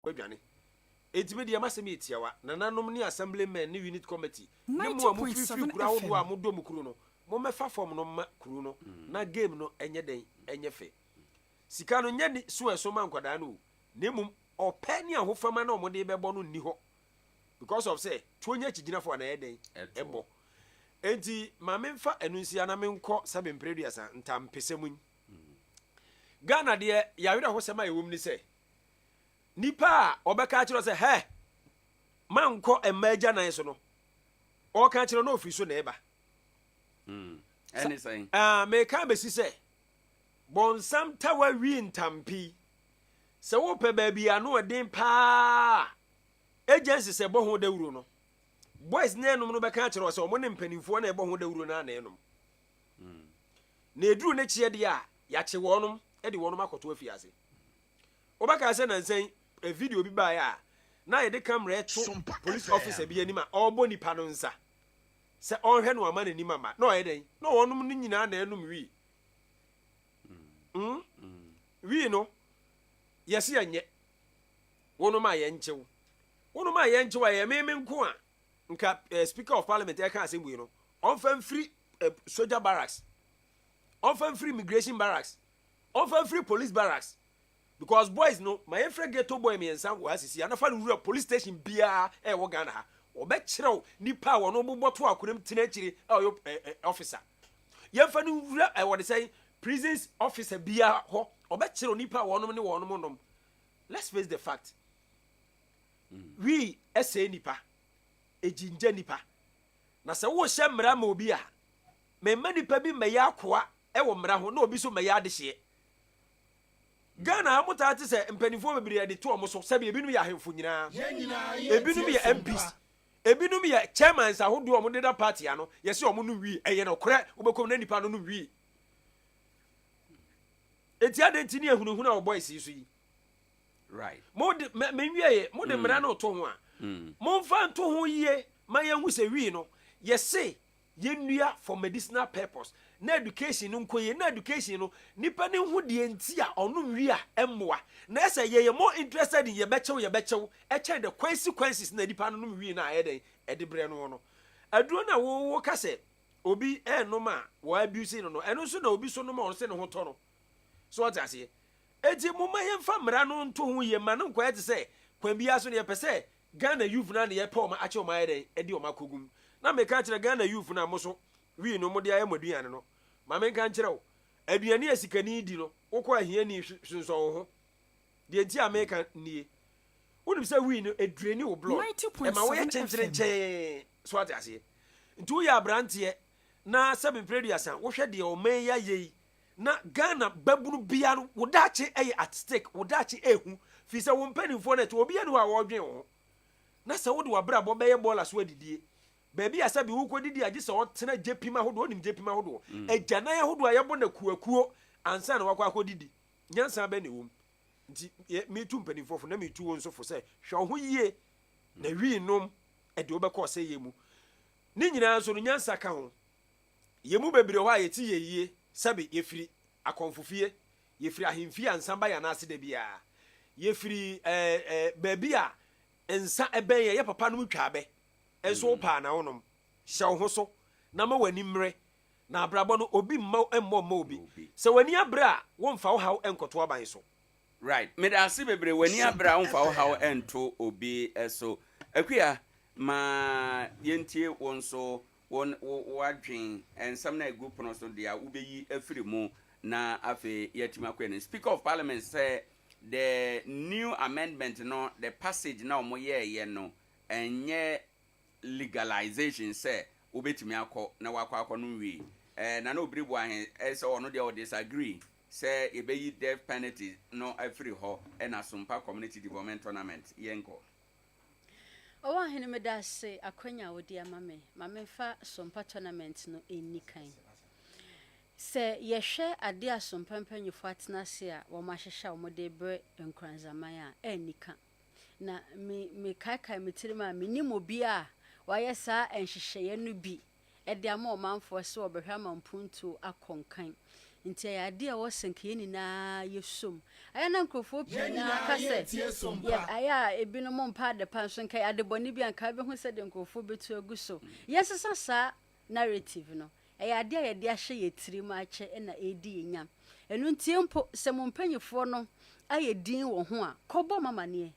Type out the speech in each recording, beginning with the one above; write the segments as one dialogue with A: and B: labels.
A: Wɔadwane. Enti me deɛ m'asɛm yɛ tiawa, nananom ne assemblymen ne unit committee ne mo a mofiri firi kuro ahodoɔ a modɔ mo kuro no, mommɛfa fam no mma kuro no na game no nyɛ dɛn nyɛ fɛ. Sika no nyɛ ne su a ɛso ma nkwadaa no o, na mmom ɔpɛ ne ahofama no a wɔde rebɛbɔ no nni hɔ because of sɛ tuo nyɛ akyigyinafo a na ɛyɛ dɛn ɛbɔ. Enti ma memfa ɛno nsia na menkɔ sɛ me mpere aduasa ntampesɛm yi. Ghana deɛ yɛawerɛhosɛm a ɛwom ne sɛ, Nnipa a wɔbɛka akyerɛ wo sɛ, Hɛ! Mankɔ mma agyanan so no, wɔreka akyerɛ wo na ofiri so na ɛba. Hmm,
B: ɛne sɛn? Ah, meka bɛsi
A: sɛ, bɔnsam tawa wi ntampi. Sɛ wopɛ baabi ano ɔden paa agency sɛ bɔ ho dawuro no, boys ne ɛnom no bɛka akyerɛ wo sɛ wɔn ne mpanimfoɔ na ɛbɔ ho dawuro no a na ɛnom. Na eduru ne kyeɛ deɛ a, yɛakye wɔnom de wɔnom akɔto afiase. Wobɛkae sɛ nansa yi video bi baeɛ a na yɛde camera reto police officer bi anim a ɔrebɔ nipa no nsa sɛ ɔnhwɛ no ama n'anim ama. Na ɔyɛ dɛn? Na wɔnom no nyinaa na anom wii. Mm. Wii no, yɛse yɛnyɛ. Wonom a yɛnkyew. Wonom a yɛnkyew a, ɛyɛ me me nko a. Nka eh, speaker of parliament ɛka eh, asɛm wei no ɔmfa mfiri eh, soldier barracks ɔmfa mfiri immigration barracks ɔmfa mfiri police barracks because boys no ma yɛmfrɛ ghetto boy mmiɛnsa wɔ ha sisi anafa no wura police station biara eh, ɛwɔ ghana ha wɔbɛkyerɛw nipa a wɔn bobɔ to akoram tena akyire a ɔyɛ eh, eh, officer yɛmfa no wura eh, wɔde sɛ prisons officer biara hɔ ɔbɛkyerɛw nipa a wɔnom ne wɔnom nom let's face the fact Wi sɛe nnipa, egyingya nnipa. Na sɛ worehyɛ mmara ma obi a, ma mma nnipa bi mmɛyɛ akoa wɔ mmara ho na obi nso mmɛyɛ adehyeɛ. Ghana ha motaa te sɛ mpanimfoɔ bebree a yɛde to wɔn so, sɛbi ebinom yɛ ahemfo nyinaa, ebinom yɛ MPs, ebinom yɛ chairmans ahodoɔ a wɔdeda party ano, yɛse wɔn nom wi, ɛyɛ nokorɛ, wobɛkɔ mu na nnipa no nom wi. Enti adɛn nti ne ahunahuna wɔ boys yi so yi?
B: Mode, me,
A: menwieɛ, mode mmara mm. no to ho a, mm. momfa nto ho yie ma yɛnhu sɛ wii no, yɛse yɛnnua for medicinal purpose na education no nkɔ yie na education no nipa no ho deɛ nti a ɔnom wi a ɛmmoa na ɛsɛ yɛyɛ more interested in yɛbɛkyɛw yɛbɛkyɛw ɛkyɛn the consequences na nipa no nom wi no a ɛyɛ dɛn ɛde brɛ no no aduro no a wowo ka sɛ obi ɛnom a wɔabuse no no ɛno nso na obi so nom a ɔno sɛ ne ho tɔ no So ɔte aseɛ? Enti momma yɛmfa mmara no nto ho yie mma no nkɔyɛ te sɛ kwan biara so no yɛpɛ sɛ Ghana youth no a na yɛpɛ wɔn akyɛ wɔn ayɛ dɛn ɛde wɔn akɔ gum na meka akyerɛ Ghana youth no a moso wii no mode ayɛ mo aduane no ma menka nkyerɛ wo aduane a sikani di no wokɔ ahiani sonsɔn wo ho deɛ nti a meka nie wonim sɛ wii no ɛdraini wo blood ɛma woyɛ kyenkyerenkyɛn so ate aseɛ nti woyɛ aberanteɛ na sɛ mepere duasa wohwɛ deɛ ɔman yi ayɛ yi Na Ghana babunu bia no wo daakye yɛ at stake, wo daakye ɛɛhu firi sɛ wo mpaninfoɔ no ɛte obia ni hɔ a ɔɔdwen wo ho na sɛ wode wabrabɔ bɛyɛ bɔɔla so adidie baabi a sɛbi wokɔ didi a gye sɛ ɔtena gyepim ahodoɔ wonim gyepim ahodoɔ agyanan ahodoɔ a yɛbɔ no akuoakuo ansa na wakɔ akɔ didi nyansa bɛn na ɛwɔ mu nti yɛ metu mpaninfoɔ fo na metu wo nso fo sɛ hwɛ wo ho yie na wii nom ɛde wobɛkɔ ɔsɛeɛ mu ne nyinaa nso no nyansa ka ho Yɛn mu bebree wɔ hɔ a, yɛte yɛn yie, sɛbe yɛfiri akɔmfofie, yɛfiri ahemfie a nsa ba yɛn ananse da biara, yɛfiri ɛɛ ɛɛ baabi a nsa bɛn yɛn, yɛ papanom twa abɛ, nso wopaa na wonom. Hyɛ wo ho so, na ma w'ani mmere, na abrabɔ no, obi mma mmɔ mma obi. Sɛ w'ani abere a, womfa wo haw nkɔto aban so. Right. Meda
B: ase bebree. W'ani abere a, womfa wo haw nto obi so. Akua, ma yɛntie wo nso Wo ne wo w'adwen, nsɛm no a ɛgu pono so deɛ a, wobɛyi afiri mu na afei yɛatumi akɔ anim. Speaker of Parliament sɛ the new amendment no, the passage no a wɔyɛeɛ no ɛnyɛ legalisation sɛ wobɛtumi akɔ na woakɔ akɔnom wii. Eh, Nana Obiri Boahe eh, sɛ ɔno deɛ ɔ disagree sɛ yɛbɛyi death penalty no afiri hɔ ɛna Sompa Community Development Tournament yɛnkɔ.
C: O Ɔhene, meda ase akwanya a wode ama me ma memfa Sompa Tournament no nni kan. Sɛ yɛhwɛ ade a Sompa mpanyimfo atena ase a wɔahyehyɛ a wɔde rebrɛ Nkoranzaman a, anni ka. Na me mekaekae me tirim a, mennim obiara a wayɛ saa nhyehyɛeɛ no bi de ama ɔmanfoɔ sɛ wɔbɛhwɛ ama mpuntuo akɔ nkan. Nti ɛyɛ adeɛ a ɛwɔ sɛ nka yɛn nyinaa yɛ som. Ayɛ na nkurɔfoɔ pii no ara ka sɛ, yɛ, ayɛ a ebinom mpɛ adepa nso nka ɛyɛ adebɔne bi a nka bɛhu sɛdeɛ nkurɔfoɔ bɛtu agu so. Yɛnsesa saa narrative no. Ɛyɛ adeɛ a yɛde ahyɛ yɛn tirim akyɛ na ɛredi yɛn nya. Ɛno ntie mpo, sɛ mo mpanyifoɔ no ayɛ dinn wɔ ho a, kɔbɔ wɔn amaneɛ.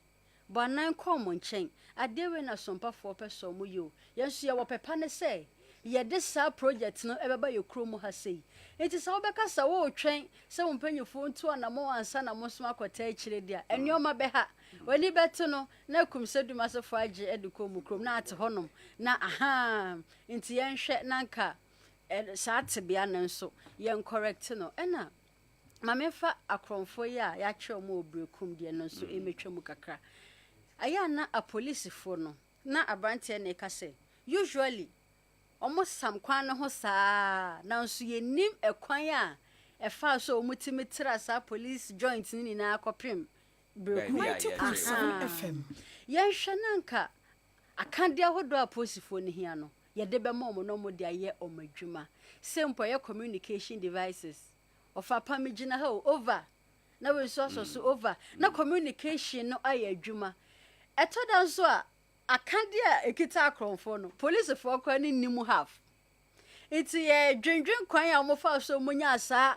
C: Bɔ anan kɔ wɔn nkyɛn. Adeɛ wei na sompafoɔ pɛ sɛ wɔyɛ o. Yɛn nso yɛwɔ pɛ pa ne sɛ yɛde saa project no bɛba yɛn kurom mu ha sei. Nti sɛ wobɛka sɛ woretwɛn sɛ wo mpanimfoɔ ntu anammɔn ansa na mo nso akɔtaa akyire de a, nneɛma bɛha. W'ani bɛte no na akum sɛ Dumasefoɔ agye de kɔ wɔn kurom na ate hɔnom na ahaa. Nti yɛnhwɛ na anka saa tebea no nso yɛncorrect no. Ɛna. Ma memfa akorɔmfoɔ yi a yɛakyerɛ wɔn wɔ Berekum deɛ no nso mmɛtwa mu kakra. Ɛyɛ a na apolisifoɔ no, na aberanteɛ no reka sɛ, usually wɔsam kwan no ho saa ara, nanso yɛnnim ɛkwan a ɛfaa so a wɔtumi tra saa police joint no nyinaa kɔpem Berekum. Mante Asɛm
D: FM. Yɛnhwɛ na
C: anka akadeɛ ahodoɔ a apolisifoɔ no hia no, yɛde bɛma wɔn na wɔde ayɛ wɔn adwuma. Sei mpo a ɛyɛ communication devices. Ɔfa pa me gyina ha o, over. Na wei nso asɔ so, over. Na communication no ayɛ adwuma. Ɛtɔ da nso a, akadeɛ a ɛkita akorɔmfoɔ no, policefoɔ koraa no nni mu half. Nti yɛdwendwen kwan a wɔfaa so mu nyaa saa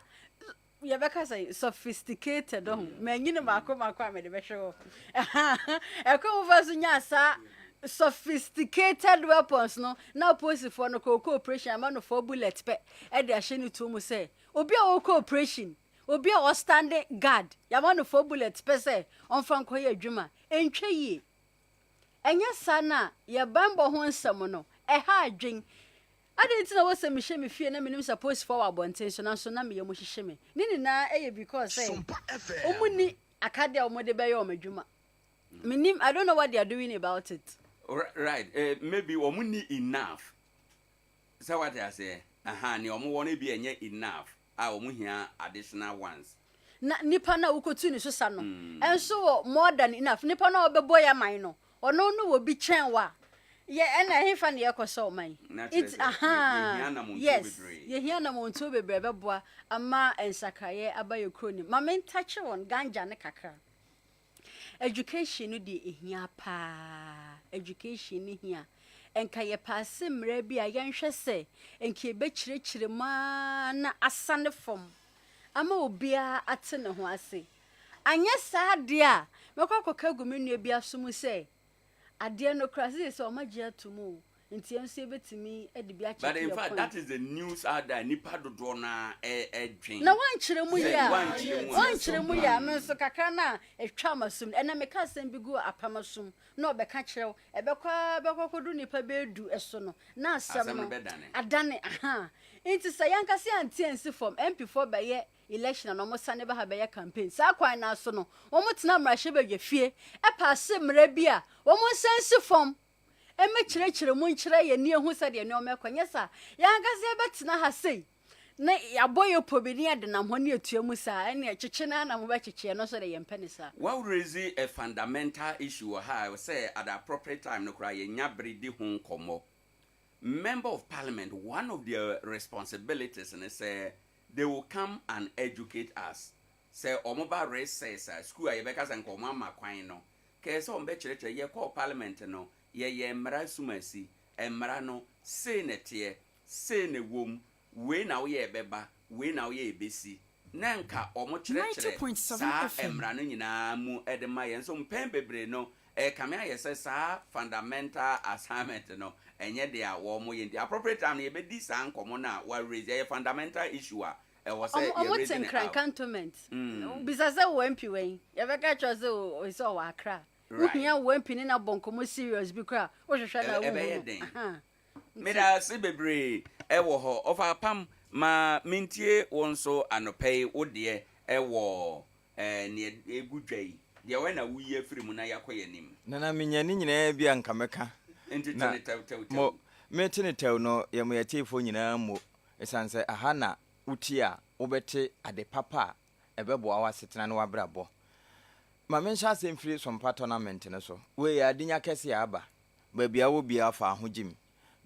C: yɛbɛka sɛ sophisticated ho mm. manyini mako mako a mede bɛhwɛ hɔ ɛkɔ mu fa so nya saa sophisticated weapons no na apolisifoɔ no kɔkɔ operation ama no four bullet pɛ de ahyɛ ne tuo mu sɛ obi a ɔrekɔ oprehyɛn, obi a ɔstande gad, yɛama no fɔ bulɛt pɛ sɛ ɔmfa nkɔyɛ adwuma a, ɛntwa yie. Ɛnyɛ saa na yɛn banbɔ ho nsɛm no, ɛha adwen. Adɛn nti na wɔ sɛ mehyɛ me fie na menim sɛ apolisifoɔ wɔ abɔnten so nanso na me yam hyehye me? Ne nyinaa yɛ because sɛ wɔn nni akadeɛ a wɔn de bɛyɛ wɔn adwuma. Menim, I don't know what they are doing about it. Right, eh,
B: maybe wɔn nni enough. Sɛ wate aseɛ ahaa nea ɔmo wɔ no ebia ɛnyɛ enough a ɔmo hia additional ones. Na nipa no
C: a wokotu ne so sa no nso wɔ more than enough. Nipa no a ɔbɛbɔ yɛn man no ɔno no wɔ bi kyɛn wo a yɛ ɛna ɛhefa na yɛkɔ sɛ ɔman. Nti ahaa yes yɛhia namɔntuo bebree. Yɛhia namɔntuo bebree ɛbɛboa ama nsakraeɛ aba yɛn kuro no mu. Ma me ntakye wɔn ganja no kakra. Education no deɛ ɛhia paa education no hia nka yɛ paase mmra bi a yɛn hwɛ sɛ nka ɛbɛ kyerɛkyerɛ mu aa na asa ne fam ama obia ate ne ho ase anyɛ saa deɛ a mɛkɔ akɔka agu me nua bi aso mu sɛ adeɛ no kora sɛ sɛ ɔma gye ato mu o. Ntia nso yɛbɛtumi de bi akyɛke yɛn kwan. But in fact that is the
B: news out there nipa dodoɔ no ara dwen. Na wankyerɛ mu
C: yɛ a wankyerɛ mu yɛ a me nso kakra no a ɛtwaa m'asom no ɛnɛ meka asɛm bi guu apam asom na ɔbɛka kyerɛ wo ɛbɛkɔ ara bɛkɔ akɔduru nipa bɛyɛ du so no na asɛm no adane ahaa nti sɛ yɛankasa yɛante ansi fam MP foɔ bɛyɛ election a na wɔsane ba ha bɛyɛ campaign saa kwan no ara so no wɔtena mmarahyɛbadwa fie ɛpaase mmara bi a wɔnsa nsi fam mmekyerɛkyerɛ mu nkyerɛ yɛn ani ehu sɛdeɛ nneɛma ɛkɔ, nyɛ saa a, yɛn ankasa yɛbɛtena ha sei na yɛabɔ yɛn pɔ bi ne yɛdenam hɔ ne yɛtua mu saa a, ɛnneɛ kyekye no ara na mobɛkyekye, ɛno nso deɛ yɛmpɛ no saa. Well raise a
B: fundamental issue wɔ ha a ɛwɔ sɛ at the appropriate time no koraa yɛnya bere di ho nkɔmmɔ. Member of Parliament, one of their responsibilities ne sɛ they will come and educate us. Sɛ wɔba recess a, sukuu a yɛbɛka sɛ nka wɔama kwan no, Kɛɛ sɛ wɔn bɛkyerɛkyerɛ, yɛ kɔɔ parliament no, yɛ yɛɛ mmara asumaasi, mmara no, sei na ɛteɛ, sei na ɛwom, wei na woyɛ ɛbɛba, wei na woyɛ ɛbɛsi, na ɛnka wɔn kyerɛkyerɛ saa mmara no nyinaa mu de ma yɛn, nso mpɛn bebree no, ɛkame ayɛ sɛ saa fundamental assignment no, ɛnyɛ deɛ a wɔn yɛ, nti appropriate time no yɛbɛdi saa nkɔmɔ no a wa raise, ɛyɛ fundamental issue a Ɛwɔ sɛ yɛ raise ne arm. Ɔmo te Nkran cantonment.
C: Bisa sɛ wo MP wɛn? Yɛbɛka akyerɛ wo sɛ ɔsi ɔwɔ Accra. Wohia wo MP ne no abɔ nkɔmmɔ serious bi koraa a, wohwehwɛ no a wonhu no. Ɛbɛyɛ den. Meda
B: ase bebree ɛwɔ hɔ. Ɔfa apam ma mentie wo nso anɔpa yi wo deɛ ɛwɔ neɛ ɛgu dwa yi deɛ wɛ na woyi afiri mu na yɛakɔ yɛn anim. Nana menya ne nyinaa
E: bi a nka mɛka. Nti te no tɛw tɛw
B: tɛw. Mo mete
E: no tɛw no yɛ mo yɛteefoɔ nyinaa mmo. Esiane sɛ ɛha na wutie a wobɛte ade papa a ɛbɛboa w'asetena ne w'abrabɔ. Ma menhyɛ ase mfiri Sompa Tournament no so. Wei yɛ adenya kɛse a aba baabi a wɔ biara faa ho gyim.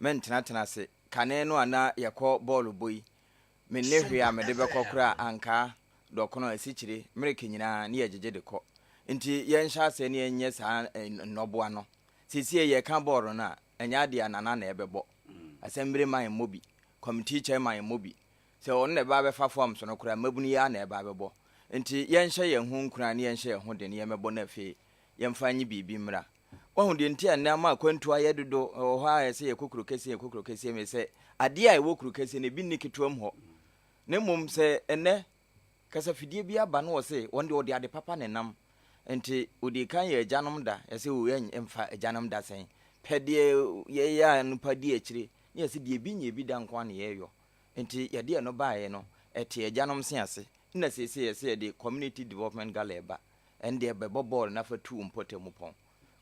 E: Mentenatena ase. Kane no a na yɛkɔ bɔɔlo bɔ yi, minni hwee a mede bɛkɔ koraa, ankaa, dɔkono, asikyire, mmereke nyinaa na yɛgyegye de kɔ. Enti yɛnhyɛ ase na yɛnyɛ saa nnɔboa no. Seesei yɛka bɔɔlo no a, ɛnyɛ adeɛ a Nana na ɛbɛbɔ. Asɛmbire man mmɔ bi. Committee chairman mmɔ bi. Sɛ ɔno na ɛbɛba abɛfa forms no koraa, mmabunu yi ara na ɛbɛba abɛbɔ. Nti yɛnhyɛ yɛn ho nkuran na yɛnhyɛ yɛn ho den na yɛmmɛbɔ na afei yɛmfa nye biribi mmra. Woahu deɛ nti a nnɛ ama akwantuo ayɛ dodo wɔ hɔ a ɛsɛ yɛkɔ kuro kɛseɛ yɛkɔ kuro kɛseɛ me sɛ adeɛ a ɛwɔ kuro kɛseɛ no ebi nni ketewa mu hɔ. Na mmom sɛ ɛnnɛ Kasafidie biara ba no wɔ se wɔn deɛ wɔde ade papa na ɛnam nti wɔdii kan yɛ agyanom da yɛse o yɛn mfa agyanom da sɛn pɛ deɛ yɛyɛ a nnipa di akyire ne yɛse deɛ ebi nyɛ bi da nko ara na yɛyɔ nti yɛde ɛno baeɛ no ɛte agyanom se ase na seesei yɛse yɛde community development gala ɛba ɛndeɛ bɛbɔ bɔɔl na fa tu wo mpɔtamu pɔn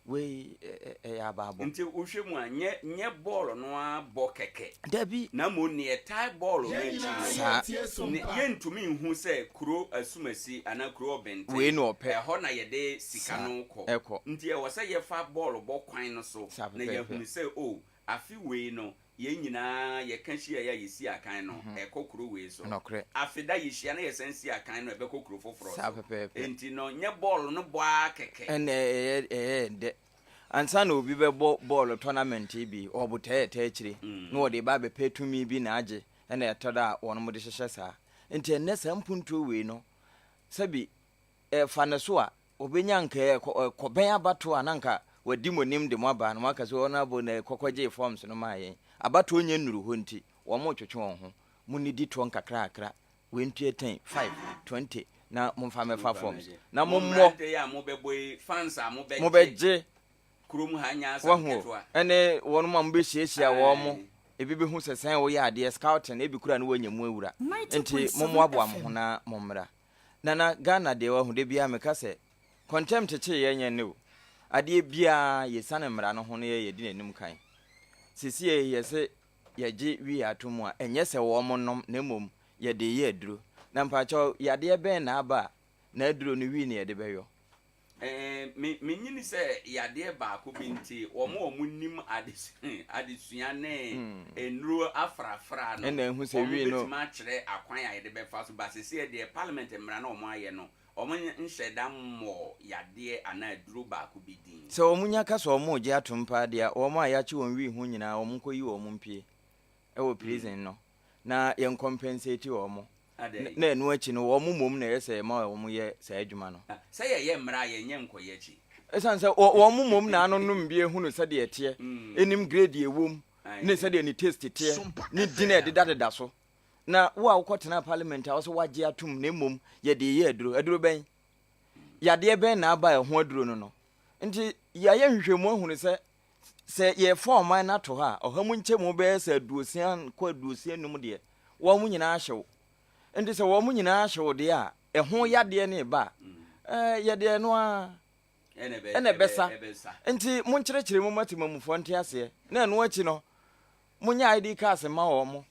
E: wei yɛ abaabɔ. Nti wo hwɛ mu a nyɛ
B: nyɛ bɔɔl no ara bɔ kɛkɛ. Dabi. Na mmom neɛ
E: ɛtae
B: bɔɔl no akyi no. Saa. Ne yɛntumi nhu sɛ kuro asumasi anaa kuro ɔbɛnten. Wei na ɔpɛ. Ɛhɔ na
E: yɛde
B: sika no kɔ. Saa ɛkɔ. Nti ɛwɔ sɛ yɛfa bɔɔl bɔ kwan no so. Saa pɛpɛɛpɛ. Na yɛahunu sɛ oh afe wei no Yɛn nyinaa yɛka hyiaeɛ a yɛsi akan no a ɛkɔ kuro wei so. Nokorɛ. Afeda yɛhyia na yɛsan si akan no a ɛbɛkɔ kuro foforɔ so. Saa pɛpɛɛpɛ. Enti no, nyɛ bɔɔlo no bɔ ara kɛkɛ. Ɛnna ɛyɛ ɛyɛ
E: dɛ. Ansa na obi bɛbɔ bɔɔlo tournament bi, wɔbotaa ɛtaa akyire, na wɔde reba abɛpɛ tumi bi na agye, ɛnna ɛtɔ da a wɔnom de hyehyɛ saa. Enti ɛnnɛ saa mpuntuo wei no, sɛbi, fa no so a, Obenya nka ɛ kɔ ɛ kɔbɛn abatoɔ a na nka wadi mo nim de mo aba na waka sɛ honourable na ɛkɔkɔ gyee forms no maa yɛn. Abatoɔ nyɛ nnuru hɔ nti wɔn twetwe wɔn ho. Mo nni di toɔ nkakrakra wei ntua ten, five, twenty na mo nfa mɛfa forms na mo mmɔ.
B: Mo bɛ
E: gye
B: wahu o ɛne wɔn a mo
E: bɛ hyiahyia wɔn mo ebi bɛ hu sɛ sɛn wo yɛ adeɛ scouting ebi kura no wɔ nya mu awura nti mo mmoaboa mo ho na mo mmra. Nana Ghana deɛ wahu da biaa meka sɛ kɔntɛm kyekyee yɛn nyɛ nnɛ o adeɛ biaa yɛsiane mmara no ho na yɛ yɛdi nanim kan sesiei yɛse yɛgye wii ato mu a ɛnyɛ sɛ wɔɔmo nom na mmom yɛdee yɛ aduro na mpaakyɛw yadeɛ bɛn na aba a na aduro no wii na yɛde bɛyɔ Me,
B: menyini sɛ yadeɛ baako bi nti wɔn a wɔn nim adesua, adesua ne hmm. nnuro afrafra no ɛna ehu sɛ wii no wɔn bɛtumi
E: akyerɛ akwan a
B: yɛde bɛfa so ba sisi deɛ parliament mmara na wɔn ayɛ no wɔn nhyɛ da mmɔ yadeɛ anaa aduro baako bi din. sɛ wɔn nya ka sɛ wɔn
E: regye atom paa deɛ wɔn a yɛakye wɔn wii ho nyinaa wɔn nkɔ yi wɔn mpie ɛwɔ hmm. prison no. na yɛn compensate wɔn na ɛno akyi no wɔn mmom na ɛyɛ sɛ yɛma wɔn yɛ saa adwuma no. Ah, sɛ yɛyɛ mmara a
B: yɛnyɛ nkɔyɛ akyi. Ɛsan sɛ wɔn
E: mmom na anonom bi ehunu sɛdeɛ ɛteɛ, mm. enim grade ewom ne sɛdeɛ ne taste teɛ ne din a ɛdedadeda so. Na wo a wokɔ tena parliament a wɔsɛ wagye atum na mmom yɛde yɛ aduro aduro bɛn yadeɛ bɛn na aba ɛho aduro no no nti yɛayɛ nhwehwɛmu ahunu sɛ Sɛ yɛrefa ɔman no ato hɔ a, ɔha mu nkyɛmu bɛyɛ sɛ aduosia kɔ aduosia num deɛ, wɔn nyinaa hyew. Nti sɛ wɔn nyinaa hyew deɛ a, ɛho yadeɛ ne ba a, ɛɛ, yɛde ɛno ara ɛna ɛbɛsa. Nti monkyerɛkyerɛ mu ma temamufoɔ nte aseɛ, na ɛno akyi no, monyɛ ID cards mma wɔn.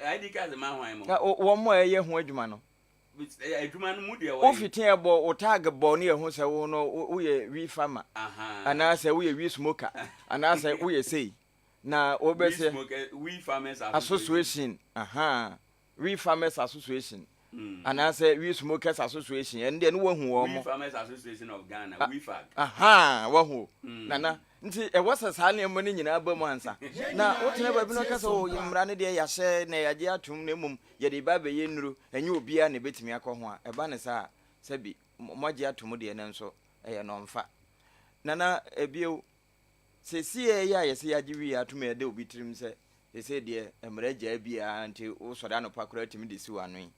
E: ID cards
B: mma hwan mo? Wɔn a ɛyɛ ho
E: adwuma no.
B: Wofi tee bɔ wo tag
E: bɔ ne yɛhu sɛ wo no woyɛ wii farmer anaasɛ woyɛ wii smoker anaasɛ woyɛ sei na wobɛsɛ
B: association
E: wii farmers association hmm. anaasɛ wii smokers association ɛno deɛ ne woahu wɔ mo
B: wahu hmm.
E: nana Nti ɛwɔ sɛ saa nneɛma no nyinaa ba mu ansa na wotena baabi na woka sɛ, oh, yɛn mmara no deɛ yɛahyɛ na yɛagye atom na mmom yɛde reba abɛyɛ nnuro, ɛnyɛ obiara na ɛbɛtumi akɔ ho a, ɛba no saa a, sɛbi moagye atom deɛ nanso ɛyɛ no ɔmfa. Nana, bio, seesei a ɛyɛ a yɛsɛ yɛagye wieɛ atom a ɛda obi tirim sɛ seesei deɛ mmara gyaa biara nti wosɔre anɔpa koraa tumi de si w'ano yi,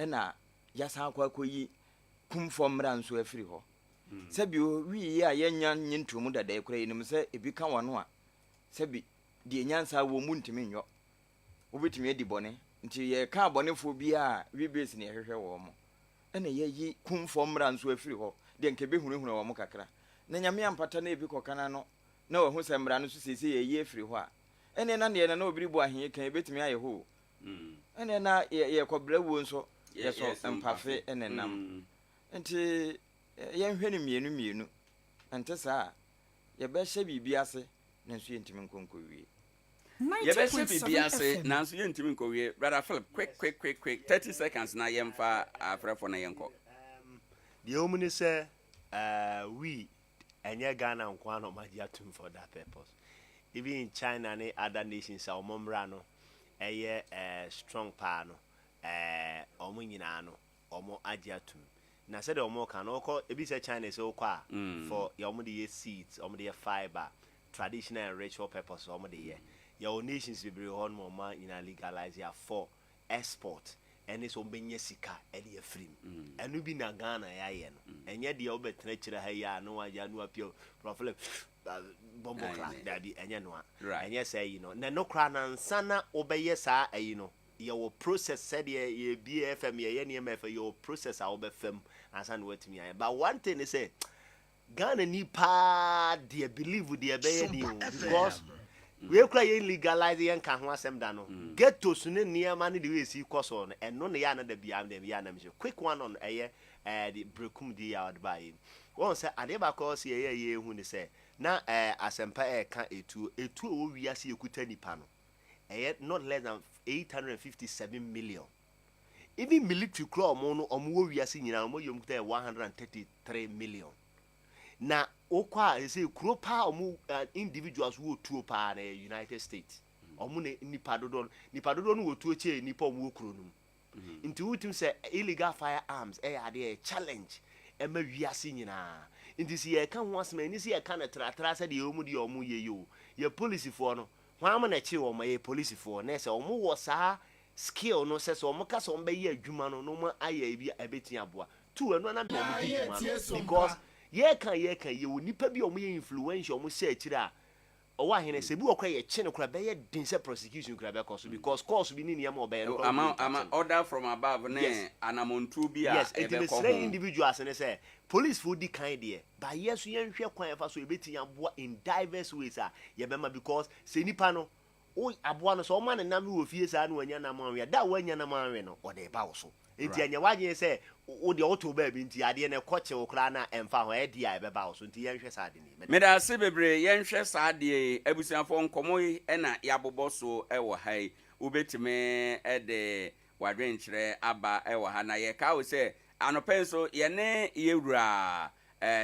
E: na yɛasan akɔ akɔyi kumfɔ mmara nso afiri hɔ. Sɛbi owi yi a yɛanya nye ntomu dada yi koraa yɛnim sɛ ebi ka wɔn a sɛbi deɛ nyansa wɔ mu ntumi nyɔ. Wobɛtumi adi bɔne nti yɛka abɔnefoɔ biara a wi base na yɛhwehwɛ wɔn ɛna yɛayi kumfɔ mmara nso afiri hɔ deɛ nka ɛbɛhunahuna wɔn kakra na Nyame ampata na ebi kɔka n'ano na wahu sɛ mmara no nso seesei yɛayi afiri hɔ a ɛneɛ na deɛ na na obi rebɔ ahe yi ka yi ɛbɛtumi ayɛ hɔ o Ɛnneɛ na yɛkɔ brɛ wuo nso yɛsɔ mpafe ne nam. Nti yɛnhwɛ no mmienu mmienu, ɛnte saa a yɛbɛhyɛ biribi ase nanso yɛntumi nkɔ nkɔwie. Yɛbɛhyɛ biribi
B: ase nanso yɛntumi nkɔwie. Brother Philip, quick quick quick quick, thirty seconds na yɛmfa afrɛfoɔ na yɛnkɔ. Deɛ
D: ɛwɔ mu ne sɛ, we Ɛnyɛ Ghana nko ara na wɔn agye atum for that purpose. Even in China ne other nations a wɔn mmra no ɛyɛ eh strong paa no, eh wɔn nyinaa no wɔn agye atum. Na sɛdeɛ wɔn reka no, wokɔ ebi sɛ China sɛ wokɔ a for deɛ wɔn de yɛ seeds, wɔn de yɛ fibre, traditional and ritual purposes wɔn de yɛ. Yɛwɔ nations bebree hɔ nom a wɔn nyinaa legalise a for export ɛne sɛ ɔbɛnya sika de afiri mu. Ɛno bi na Ghana yɛayɛ no. Ɛnyɛ deɛ wobɛtena akyire ha yi a na wayɛ na wapia prɔflɛ bɔmbɔ class daabi ɛnyɛ noa. Ɛnyɛ saa ayi no. Na ɛno koraa no ansa na wobɛyɛ saa ayi no yɛwɔ process sɛdeɛ yɛbie FM yɛyɛ nneɛma ɛfɛ yɛwɔ process a wobɛfa mu ansa na woatumi ayɛ. But one thing ne sɛ Ghana ni paa deɛ believe deɛ ɛbɛyɛ ni o because wei kura yɛn legalize yɛn ka ho asɛm da no ghettos ne nneɛma ne de wei si kɔ so no ɛno na yɛ anada bi am dɛm yɛ anam sɛ quick one on ɛyɛ ɛɛ de brekum di yɛ ɔde ba yɛ mu wɔn sɛ adeɛ baako ɔsi ɛyɛ yɛ ehu ne sɛ na ɛɛ asɛmpa ɛɛka etuo etuo wɔ wiase ekuta nipa no ɛyɛ not less than eight hundred and fifty seven million. Even military koraa ɔmo no ɔmo wɔ wiase nyinaa ɔmo yɛ ɔmo kuta yɛ one hundred and thirty three million na wokɔ a sɛsɛ kuro paa ɔmo individuals wɔ tuo paa na yɛ United States ɔmo na nipa dodoɔ no nipa dodoɔ no wɔ tuo kyɛɛ nipa ɔmo wɔ kuro no mu nti wotim sɛ illegal firearms ɛyɛ adeɛ yɛ challenge ɛma wiase nyinaa nti sɛ yɛka ho asɛm ɛni sɛ yɛka no tratra sɛ deɛ ɔmo deɛ ɔmo yɛ yɛ o yɛ polisifoɔ no hwan mo na ɛkyere wɔn ɛyɛ polisifoɔ na ɛsɛ ɔmo wɔ saa skill no sɛ sɛ wɔn ka sɛ wɔn bɛyɛ adwuma no na wɔn ayɛ ebi a ɛbɛtumi aboa too ɛno ara na mema wɔn di dwuma no because yɛreka a yɛreka yi yɛwɔ nnipa bi a wɔn yɛ influential wɔn hyɛ akyire a ɔwɔ ahene sɛ ebi wɔ koraa yɛkye no koraa ɛbɛyɛ den sɛ prosecution koraa ɛbɛkɔ so because course bi ne nneɛma a ɔbɛyɛ no koraa wɔntumi nka kyɛ no order from
B: above ne yes anamɔntuo bi a yes enti ɛbɛkɔ ho mesrɛ
D: individuals ne sɛ police foɔ di kan deɛ ba yɛ so yɛnhwɛ kwan yɛfa so yɛbɛtumi aboa in diverse ways a yɛbɛma because sɛ nipa no Wo aboa no, sɛ ɔma no nam no wɔ fie saa na wannya nam anwe a, da a wannya nam anwe no, ɔde reba wo so. Enti ɛnyɛ w'adwene sɛ wo deɛ wotow baabi nti adeɛ no ɛkɔ kyew koraa no a, ɛmfa ho, ɛyɛ de a ɛbɛba wo so. Enti yɛnhwɛ saa ade no yi. Meda. Meda ase bebree.
B: Yɛnhwɛ saa adeɛ yi. Abusuafoɔ, nkɔmmɔ yi na yɛabobɔ so wɔ ha yi. Wobɛtumi de w'adwenkyerɛ aba wɔ ha. Na yɛkae wo sɛ, anɔpa yi nso, yɛne Yɛwura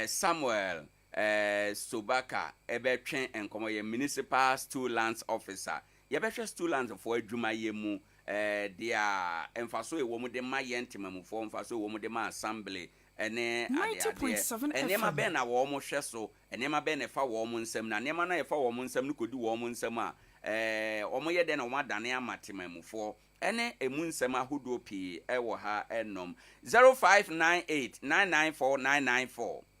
B: Samuel Ɛɛ Sobaka ɛbɛtwe nkɔmɔ ɔyɛ Municipal Stool Lands Officer. Yɛbɛhwɛ Stool Lands foɔ adwumayɛ mu ɛɛ dea mfasoɔ a ɛwɔ mu de ma yɛn Temamufoɔ, mfasoɔ a ɛwɔ mu de ma Assembly ɛne adeadeɛ. 90.7 Nneɛma FM. bɛn na wɔn hwɛ so, nneɛma bɛn na ɛfa wɔn nsam na nneɛma no a ɛfa wɔn nsam no kɔdi wɔn nsam a ɛɛ wɔn yɛ dɛn na wɔn adane ama Temamufoɔ ɛne ɛmu nsɛm ahodoɔ pii ɛwɔ ha nom. 0598 994 994.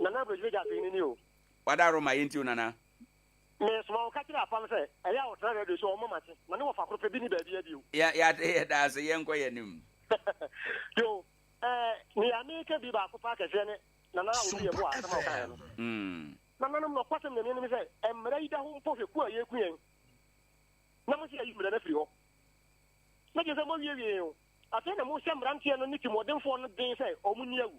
B: Nana bro gyimi
F: gya afei ni ni o. Wada Roma yɛ nti o
B: Nana. Me soma
F: wo ka kyerɛ Apam sɛ ɛyɛ a ɔtena radio so ɔmɔ mate na ne wɔfa koro pɛ bi ni baabi a bio. Yɛ yɛate yɛ da ase
B: yɛ nkɔ yɛ nim. Yo
F: eh nea me ka bi baako paa kɛseɛ ne Nana Odu yɛ boa asɛm a ɔka yɛ no. Mm. Nana nom nɔkwa sɛm nyame anim sɛ ɛmmara yi da ho mpo hwɛ ku a yɛku yɛn na mo se yɛyi mmara no afiri hɔ na gye sɛ mo awie wie yɛn o afei na mo hyɛ mmeranteɛ no ne timɔdenfoɔ no den sɛ ɔmo nni awu.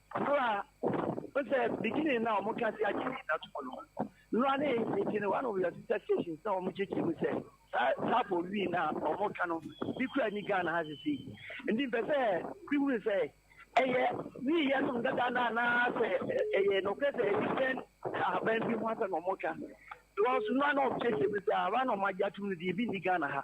G: Ɔno a Wohu sɛ beginning na wɔn ka se agye ne nna to mu no, nnora ne nti no one of your sister stations na wɔn kyekyere mu sɛ saa Sappho wii na wɔn ka no bi kura ni Ghana ha sisi. Nti mpɛ sɛ bi hunu sɛ ɛyɛ wii yɛ nom dada na anaasɛ ɛyɛ nɔkorɛ sɛ ɛdipɛn ahaban bi ho asɛ na wɔn ka. Because nnora na wɔn kyekyere mu sɛ ahaban na wɔn agye atum no deɛ ebi ni Ghana ha.